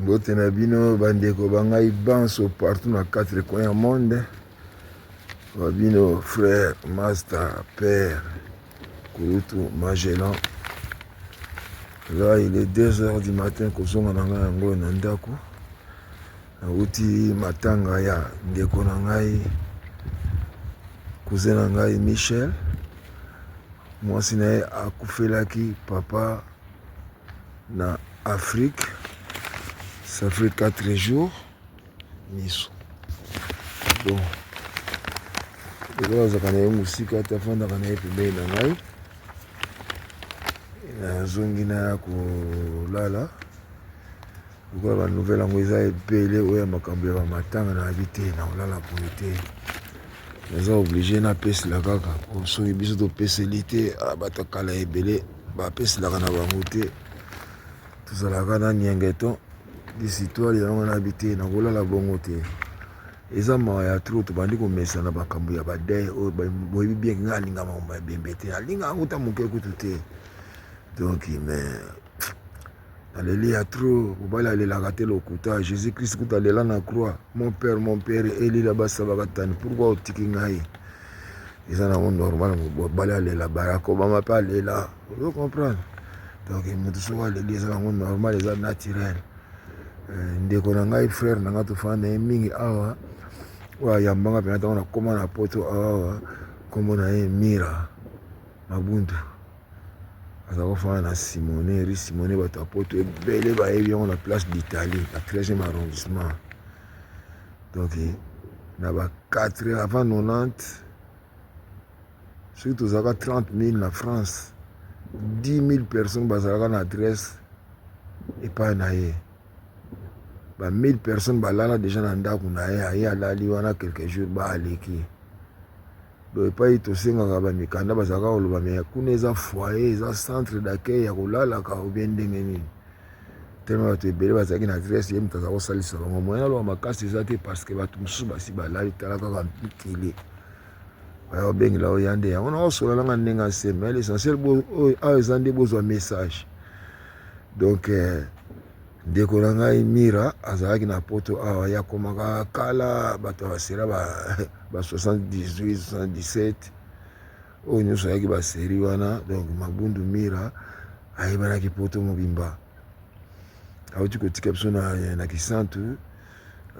mbote na bino bandeko ba ngai banso partout na quatre coin ya monde ba bino frère master père kurutu magellan là il est deux heures du matin kozonga na ngai yango na ndako Nawuti matanga ya ndeko na ngai cousin na ngai Michel, mwasi na ye akufelaki papa na Afrique, ça fait 4 jours miso bon lelo azalaka na ye mosika te afandaka na ye pembeni na ngai nazongi na ya kolala Lokola ba nouvelle yango eza ebele oyo ya makambo ya ba matanga na yabi te na olala boye te naza oblige na pesela kaka po soki biso topeseli te ah, bato kala ebele bapeselaka na bango te tozalaka na niengeton disitwale yango na yabi te na kolala bongo te eza mawa ya trop tobandi komesana makambo ya badei oyo boyebi bien kinga alinga makambo ya bembe te alinga yango ta moke kutu te donc mais Aleli ya trop mobali alelaka te lokuta Jesus Christ kuta alela na croix mon père mon père elila basabaka tani pourquoi otiki ngai eza nango normal mobali alela Barack Obama mpe alela ozo comprendre donc moto soko aleli eza nango normal eza naturel euh, ndeko na ngai frère na ngai tofanda na ye mingi awa oyo ayambanga mpenza ntango nakoma na poto awa nkombo na ye mira mabundu Aza kofanda na Simone, rue Simone, bato ya poto ebele bayebi yango na place d'Italie, na 13e arrondissement. Donc na ba 4 avant 90 soki tozalaka 30 000 na France, 10 000 personnes bazalaka na adresse epai na ye. Ba 1000 personnes balala deja na ndako na ye, aye alali wana quelques jours ba aleki. Donc epayi tosengaka ba mikanda bazalaka kaka koloba mais kuna eza foyer eza centre d'accueil ya kolalaka ou bien ndenge nini tellement bato ebele bazalaki na adresse ye moto aza kosalisa bango moyen aloba makasi eza te parce que bato mosusu basi balali tala kaka mpitili baya kobengela oyo ya nde yango na osola nanga ndenge ase mais l'essentiel oyo awa eza nde bozwa message donc euh, Ndeko na ngai Mira azalaki na poto awa ye akomaka kala bato ya basera ba 78 77 oyo nyonso ayaki baseri wana donc mabundu Mira ayebanaki poto mobimba awuti kotika biso na, na kisantu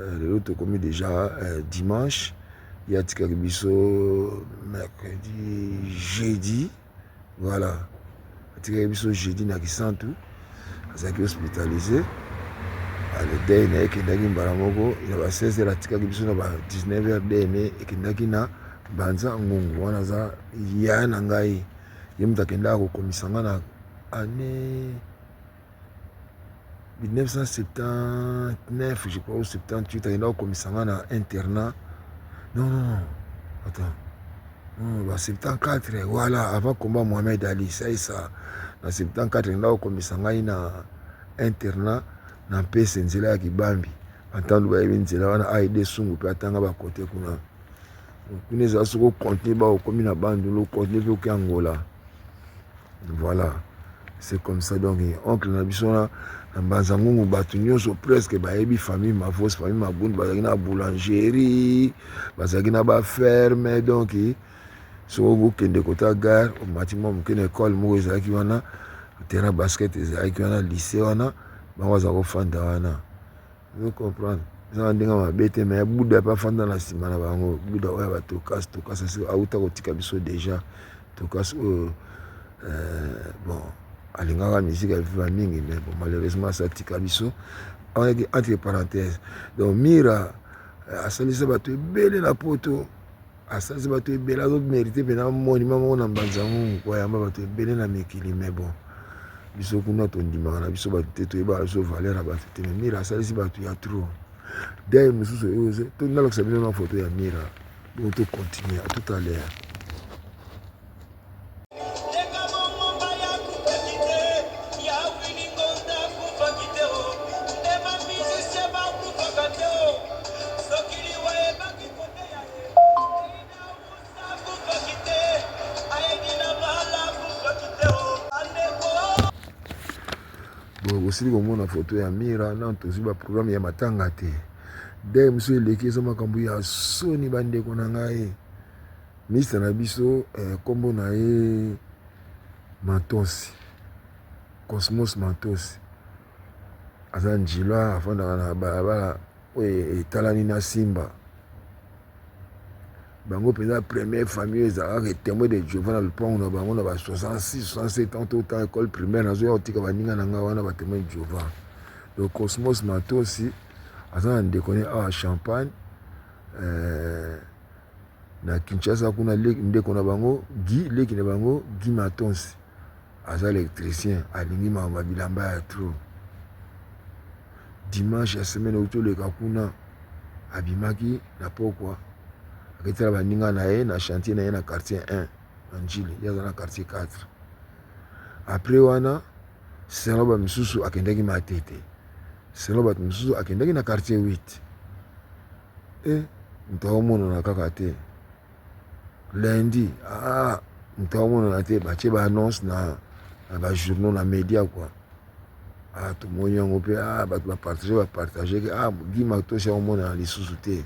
euh, lelo tokomi deja euh, dimanche ye atikaki biso mercredi jeudi Voilà. Atikaki biso jeudi na Kisantu. Azalaki hospitalisé. Ah, le deuil na ye ekendaki mbala moko na ba 16 heures atikaki biso na ba 19 heures dna ekendaki na banza ngungu wana aza yaya na ngai ye moto akendaka kokomisa ngai na année 1979 je crois ou 78 ayenda kokomisa nga na internat non non attends non ba 74 voilà avant combat Mohamed Ali ça et ça na 74 ayenda kokomisa ngai na internat na mpese nzela ya kibambi antandu bayebi nzela wana aide sungu mpe atanga bakote kuna kuna ezala soko contenu ba okomi na bandundu contenu mpe oke angola voilà c'est comme ça donc oncle na biso na na mbanza ngungu bato nyonso presque bayebi famille mavos famille magundu bazalaki na boulangerie bazalaki na baferme donc soko bokende kota gare omati mwa moke na ekole moko ezalaki wana terrain basket ezalaki wana lycée wana bango baza kofanda wana Ozo comprendre? Eza na ndenge mabe te mais Buda pe afanda na sima na bango. Buda oyo ba Tokas, Tokas asi auta kotika biso deja. Tokas oyo euh, bon alingaka musique ya viva mingi mais bon malheureusement asi atika biso. On est entre parenthèses. Donc Mira euh, asalisa bato ebele na poto Asanzi bato ebele azo merite mpe na monima moko na mbanza ngungu po ayamba bato ebele na mikili mais bon biso kuna tondimaka na biso bato te toyebaka biso valeur ya bato te mais mira asalisi bato ya trop dei mosusu oyoze to nalakisa bino na foto ya mira bongo tocontinue tout à l'heure osili komona foto ya mira nano tozwi baprograme ya matanga te dai mosusu eleki eza makambo ya soni bandeko na ngai Ministre na biso kombo na ye Matosi Cosmos Matosi aza ndjila afandaka na balabala oyo etalani na Simba bango mpenza première famille ezalaka ke témoin de Jehovah na lopango na bango na ba 66 67 ans to temps école primaire nazoya kotika baninga na ngai wana ba témoin de Jehovah donc Cosmos Matosi aza na ndeko ne awa Champagne euh, na Kinshasa kuna ndeko na bango Guy leki na bango Guy Matonsi aza electricien alingi makambo ya bilamba ya trop dimanche ya semaine euti oleka kuna abimaki na pokwa aketala baninga na ye na chantier na ye na quartier 1 na njili ye aza na quartier 4 après wana selon bato mosusu akendaki matete selon bato mosusu akendaki na quartier 8 Eh moto azo monana kaka te lundi ah moto azo monana te batie ba annonce na na ba journaux na media quoi ah tomoni yango mpe ah bato ba partage ba partage ke ah Guy Matos azo monana lisusu te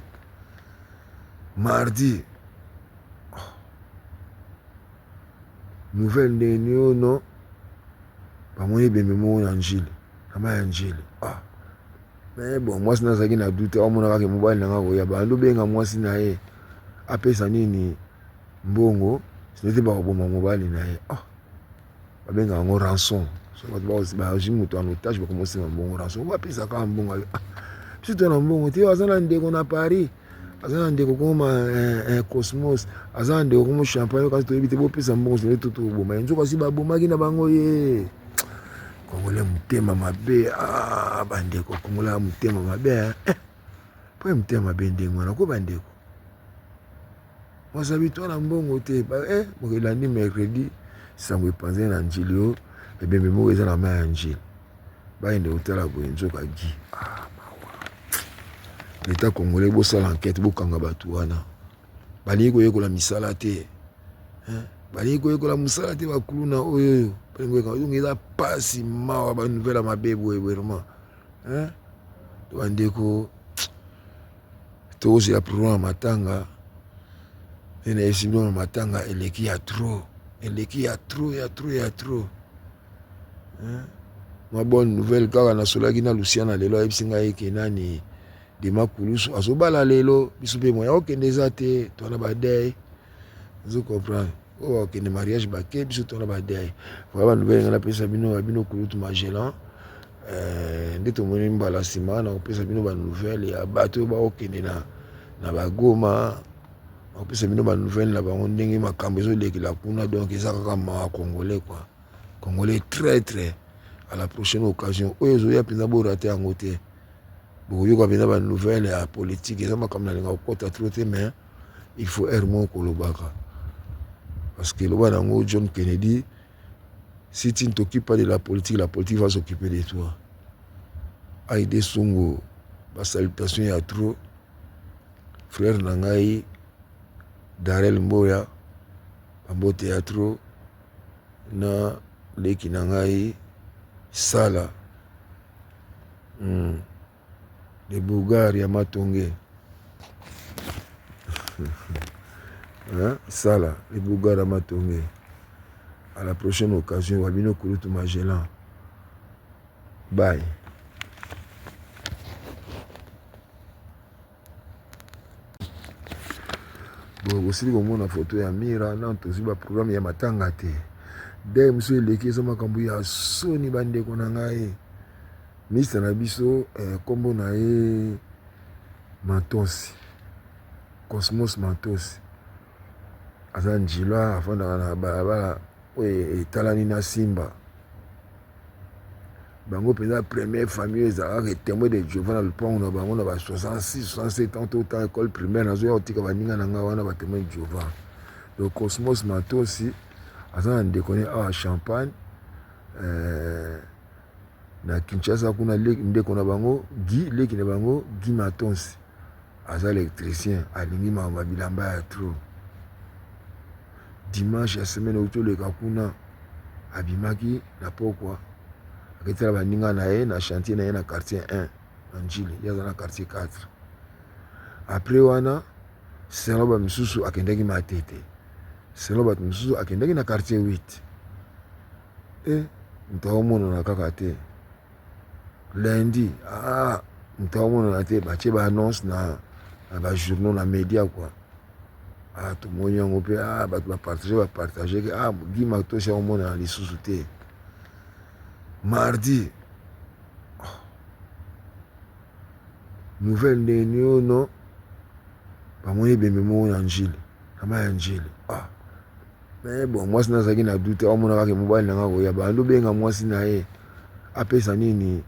mardi oh. nouvelle ndenge nini oyo non bamoni ebembe moko na njili na mai ya njili ah Mais bon mwasi na azalaki na doute amona kaka mobali na nga koya abandi obenga mwasi na ye apesa nini mbongo sinete bakoboma mobali na ye ah babengaka yango rançon bazwi moto en otage bakomosenga mbongo rançon oyo apesa kaka mbongo ayo ah biso to na mbongo te aza na ndeko na paris aza na ndeko koma eh, eh, cosmos aza na ndeko komo champagne kasi toyebi te bopesa mbongo sinete totoboma ye nzoka si babomaki na bango ye Congolais mutema mabe ah bandeko Congolais mutema mabe hein eh, po ya mutema mabe ndenge wana ko bandeko mwaza bitwa na mbongo te ba eh mokelandi mercredi sango epanzani na njili yo ebembe moko eza na mai ya njili bayende kotala boye nzoka gi ah, leta congolais bosala enquête bokanga bato wana Balingi koyekola misala te hein? balingi koyekola mosala te bakuluna oyoyo donc eza mpasi mawa banouvelle ya mabe boye vraiment to bandeko tozela prolon ya matanga nde nayebisi bino na matanga eleki ya trop eleki ya trop ya trop ya trop mwa bonne nouvelle kaka nasolaki na lusiana lelo ayebisi ngai eke nani Dema kulusu azo bala lelo biso pe moyen okende eza te toi na ba deuil ozo comprendre oyo oh, bakende mariage bake biso toi na ba deuil voilà ba nouvelle nga napesa bino ya bino kulutu magellan euh, nde tomoni mbala nsima na kopesa bino ba nouvelle ya bato oyo bakokende na na bagoma bakopesa bino ba nouvelle na bango ndenge makambo ezolekela kuna donc eza kaka mawa congolais quoi congolais très très à la prochaine occasion oyo ezoya mpenza borate yango te bokoyoka pena ba nouvelle ya politique eza makambo nalinga kokota tro te mais il faut heure moko kolobaka parce que loba na yango john kennedy si tu ne t'occupes pas de la politique la politique va s'occuper de toi aide songo ba salutation ya trop frère na ngai darel mboya bambote ya trop na leki na ngai sala Hum le bougard ya matonge hein? sala le bougard ya matonge à la prochaine occasion wa bino kulutu magellan bye Boye bosili komona foto ya mira nano tozwi ba programe ya matanga te dei mosusu eleki eza makambo ya soni bandeko na ngai mista na biso eh, nkombo na ye matosi cosmos matosi aza ndjila afandaka na balabala oyo etalani na simba bango mpenza premier famille ezalaka ke temoi de jehova na lopango na bango na ba 66 67 ans tota ecole primaire nazoya kotika baninga na ngai wana batemoi de jehova le cosmos matosi aza na ndeko ne awa champagne euh, na kinshasa kuna ndeko na bango gi leki na bango gi matonsi Aza electricien alingi makambo ya bilamba ya trop. Dimanche ya semaine euti oleka kuna abimaki na pokwa aketala baninga na ye na chantier na ye na quartier 1 na Ndjili, ye aza na quartier 4. Après wana selon ba misusu akendaki Matete, selon bato misusu akendaki na quartier 8 e eh, moto aomonana kaka te. lundi ah moto akomonana te batie ba annonce na na ba journaux na media kua ah tomoni yango mpe ah bato bapartage bapartage ke ah gi matosi akomonana lisusu te mardi oh. nouvelle ndenge niono bamoni ebembe moko na njili kama ya njili ah Mais bon mwasi na azalaki na doute amona kaka mobali na nga koya bando benga mwasi na ye apesa nini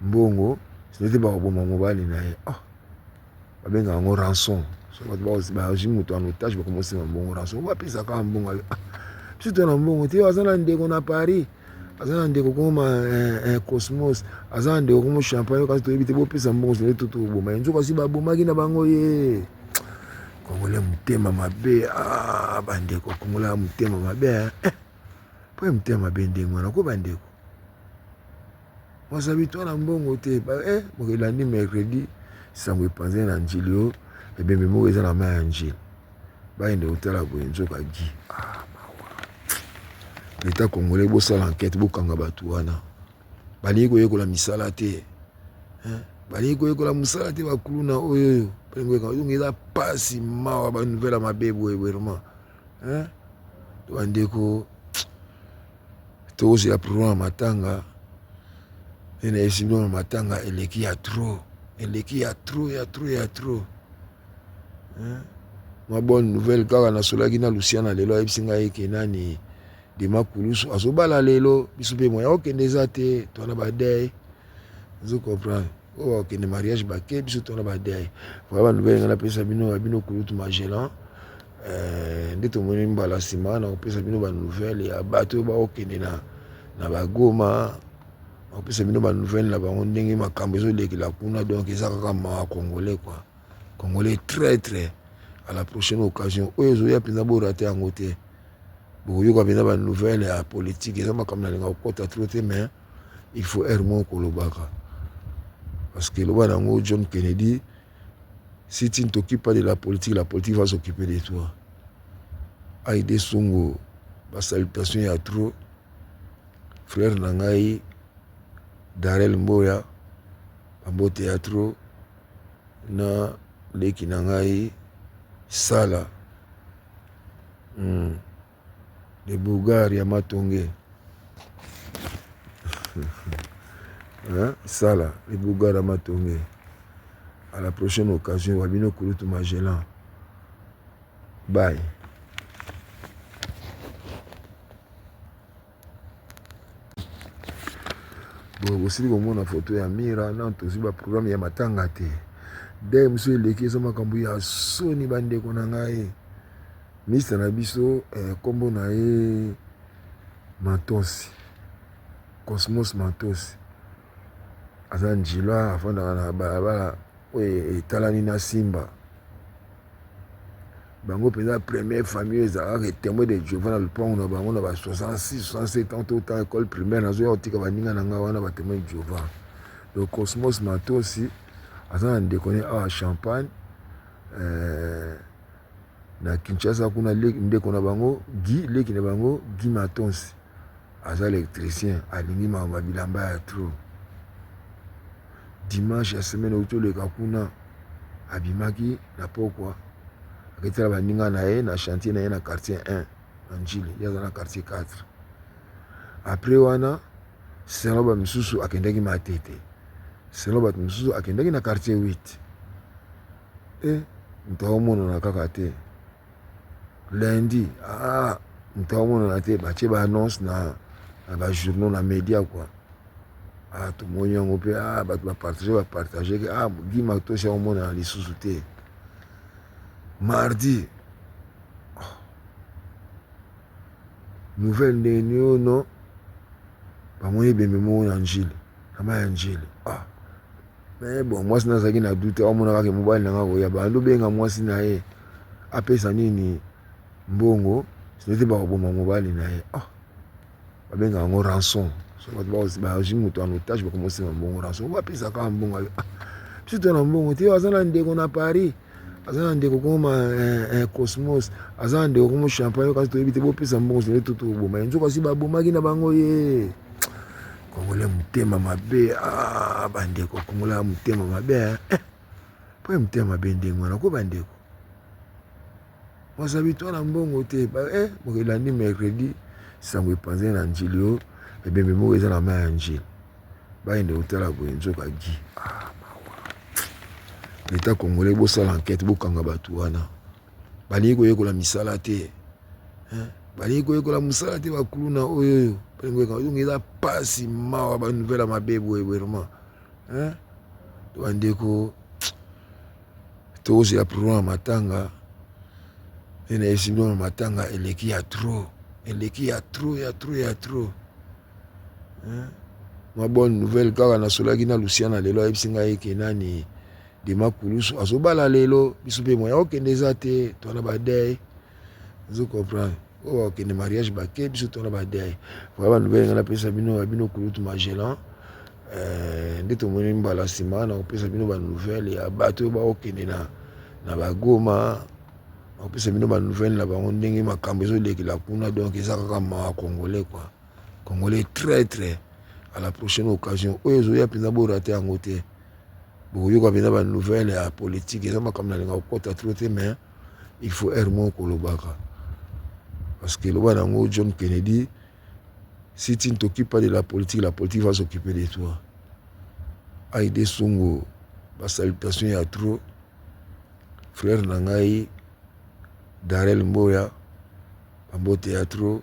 mbongo sinete bakoboma mobali na ye oh. babenga yango rançon bazwi moto en otage bakomosenga mbongo rançon bapesaka mbongo ah. biso to na mbongo te aza na ndeko na paris aza na ndeko koma eh, eh, cosmos aza na ndeko komo champagne kasi toyebi te bopesa mbongo sele to toboma ye nzoka si babomaki na bango ye kongola motema mabe ah, bandeko kongola motema mabe eh, eh. mpo ya motema mabe ndenge wana ko bandeko mwasa bitwa na mbongo te mokeli elandi mercredi sango epanzani na njili oyo ebembe moko eza na mai ya njili Bayende kotala boye nzoka Guy. Ah, mawa. L'Etat congolais bosala enquête bokanga bato wana. Balingi koyekola misala te. Hein? Balingi koyekola mosala te bakuluna oyo oyo. Balingi koyekola donc eza pasi mawa ba nouvelle mabe boye boye vraiment. Hein? Bandeko tokozela problème ya matanga ena esimbi na matanga eleki ya trop eleki ya trop ya trop ya trop mwa bonne nouvelle kaka nasolaki na lusiana lelo ayebisi ngai eke nani dema kulusu azobala lelo biso mpe moya okende eza te twana badei ozo comprendre oyo oh, bakende mariage bake biso twana badei vra banouvelle ngai napesa bino ya bino kulutu magellan eh, nde tomoni mbala nsima na kopesa bino banouvelle ya bato oyo baokende na bagoma bakopesa bino ba nouvelle na bango ndenge makambo ezolekela kuna donc eza kaka mawa congolais quoi congolais traitre à la prochaine occasion oyo ezoya mpenza borate yango te bokoyoka mpenza ba nouvelle ya politique eza makambo nalinga kokota tro te mais il faut heure moko kolobaka parce que loba na yango john kennedy si tu ne t'occupes pas de la politique la politique va s'occuper de toi aide songo basalutation ya trop Frère na ngai Darel Mboya ba mbote ya trop na leki na ngai Sala hmm. de Bulgar ya Matonge hein? Sala de Bulgar ya Matonge à la prochaine occasion wa bino kulutu Magellan bye Boye bosili komona foto ya mira nano tozwi ba programme ya matanga te dai mosusu eleki eza makambo ya soni bandeko na ngai mista na biso eh, nkombo eh, na ye matosi cosmos matosi aza ndjila afandaka na balabala oyo etalani na simba bango mpenza premier famille ezalaka etemwe de jova na lopango na bango na ba 66 67 ans tota ecole primaire nazoya kotika baninga na ngai wana batemwe de jova le cosmos matosi aza na ndeko ne awa champagne euh, na kinshasa kuna ndeko na bango gi leki na bango gi matonsi Aza electricien alingi makambo ya bilamba ya trop. Dimanche ya semaine euti oleka kuna abimaki na pokwa aketela baninga na ye na chantier na ye na quartier 1 na njili ye aza na quartier 4 après wana selon bato mosusu akendaki matete selon bato mosusu akendaki na quartier 8 e eh, moto aomonana kaka te lundi ah moto amonana te batie ba annonce na na ba journaux na media kua ah tomoni yango mpe ah bato bapartage bapartage ke ah gi matosi akomonana lisusu te mardi oh. nouvelle ndenge niono bamoni ebembe moko na njili na mai ya njili ah Mais bon mwasi na azalaki na doute amonaka ke mobali na nga akoya abandi obenga mwasi na ye apesa nini mbongo sinete bakoboma mobali na ye ah, babengaka yango rançon bazwi moto en otage bakomosenga mbongo rançon bapesa kaka mbongo ayo ah, biso to na mbongo te aza na ndeko na paris aza na ndeko koma eh, eh, cosmos aza na ndeko komo champagne kasi toyebi te bopesa mbongo sinete totoboma ye nzoka si babomaki na bango ye Congolais mutema mabe ah, bandeko Congolais mutema mabe hein? Eh, po ya mutema mabe ndenge wana ko bandeko wazabi to na mbongo te ba eh moko elandi mercredi sango epanzani na njili oyo ebembe moko eza na mai ya njili bayende kotala boye nzoka gi ah, leta congolais bosala enquête bokanga bato wana Balingi koyekola misala te hein? balingi koyekola mosala te bakuluna oyo oyo balingi koyekola donc eza mpasi mawa ba nouvelle ya mabe boye boye vraiment hein? to bandeko tozela prolon ya matanga nde nayebisi bino na matanga eleki ya trop eleki ya trop ya trop ya trop hein? mwa bonne nouvelle kaka nasolaki na lusiana lelo ayebisi ngai eke nani Dema kulusu azobala lelo biso mpe moyen okende eza te twana badei ozo comprendre oyo bakokende mariage bake biso twana badei voya banobele ngai napesa bino ya bino kulutu magellan eh, nde tomoni mbala nsima na kopesa bino banouvelle ya bato oyo bakokende na, na bagoma nakopesa bino banouvelle na bango ndenge makambo ezolekela kuna donc eza kaka mawa congolais kua Congolais traitre à la prochaine occasion oyo ezoya mpenza borate yango te bokoyoka mpenza ba nouvelle ya politique eza makambo nalinga kokota tro te mais il faut aire moko kolobaka parce que eloba na yango john kennedy si tu ne t'occupes pas de la politique la politique va s'occuper de toi aide songo basalutation ya tro frère na ngai darel mboya bambote ya tro